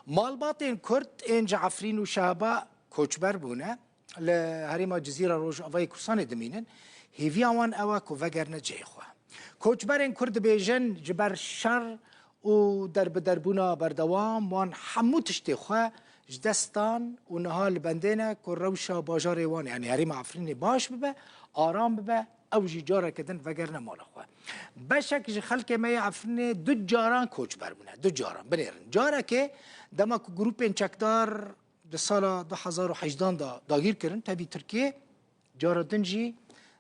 Malbatên Kurd ên ji Efrîn û Şehba koçber bûne, li herêma Cizîra Rojavayê Kurdistanê dimînin, hêviya wan ew e ku vegerine cihê xwe. Koçberên Kurd dibêjin ji ber şer û derbiderbûna berdewam wan hemû tiştê xwe ji dest dan û niha li bendê ne ku rewşa bajarê wan yanî herêma Efrînê baş bibe, aram bibe, Ew jî careke din vegerine mala xwe. Beşek ji xelkê me yê Efrînê du caran koçber bûne. Du caran binêrin. Carekê dema ku grûpên çekdar di sala du hezar û heyjdan de dagîr kirin tevî Tirkiyê, cara din jî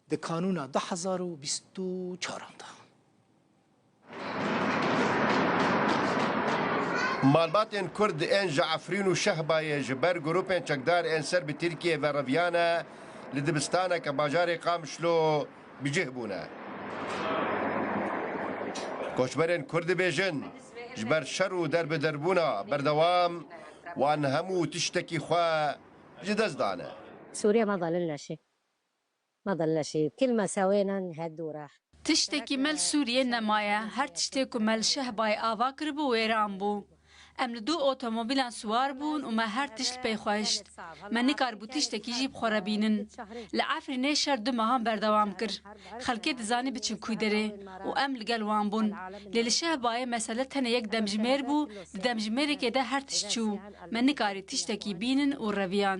di kanûna du hezar û bîst û çaran de. Malbatên Kurd ên ji Efrîn û Şehbayê ji ber grûpên çekdar ên ser bi Tirkiyeyê ve reviyane, li dibistaneke bajarê Qamişlo bi cih bûne. Koçberên Kurd dibêjin, ji ber şer û derbiderbûna berdewam wan hemû tiştekî xwe ji dest dane. Ma dil neşî kîl me sewênen he dûr e. Tiştekî mel Sûriyê nemaye. Her tiştê ku mel Şehbayê ava kiribû wêran bû. Em li du otomobîlan siwar bûn û me her tişt pey xwe hişt. Me nikaribû tiştekî jî bi xwe re bînin. Li Efrînê şer du mehan berdewam kir. Xelkê dizanî biçin kûy derê û em li gel wan bûn. Lê li Şehbayê mesele tenê yek demjimêr bû, di demjimêrekê de her tişt çû. Me nikarî tiştekî bînin û reviyan.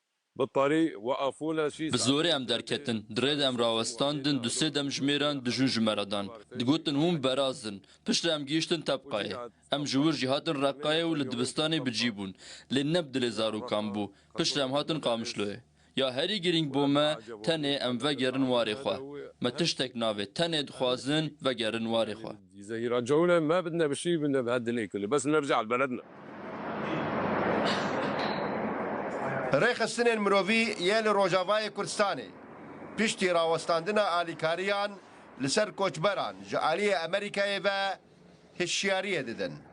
Bi zorê em derketin. Di rê de em rawestandin, du sê dem ji mêran dijûn ji me re dan. Digotin hûn beraz in. Piştre em gihîştin Tebqayê. Em ji wir jî hatin Reqqayê û li dibistanê bi cî bûn. Lê ne bi dilê zarokan bû. Piştre em hatin Qamişloyê. Ya herî girîng bo me, tenê em vegerin warê xwe. Me tiştek navê. Tenê dixwazin vegerin warê xwe. Ji zehîra cewle me bi ne bi şî bi ne bi her dilê kili bes ne bi cehel beled ne. Rêxistinên mirovî yê li Rojavayê Kurdistanê piştî rawestandina alîkariyan li ser koçberan ji aliyê Amerîkayê ve hişyariyê didin.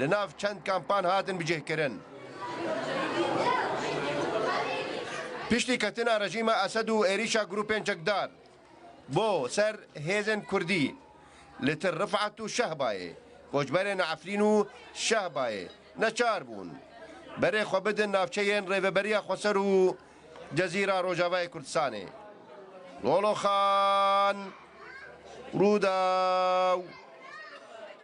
li nav çend kampan hatin bicihkirin. Piştî ketina rejîma Esed û êrîşa grûpên çekdar bo ser hêzên Kurdî li Til Rifat û Şehbayê, koçberên Efrîn û Şehbayê neçar bûn berê xwe bidin navçeyên Rêveberiya Xweser û Cezîra Rojavayê Kurdistanê. Loloxan, Rûdaw.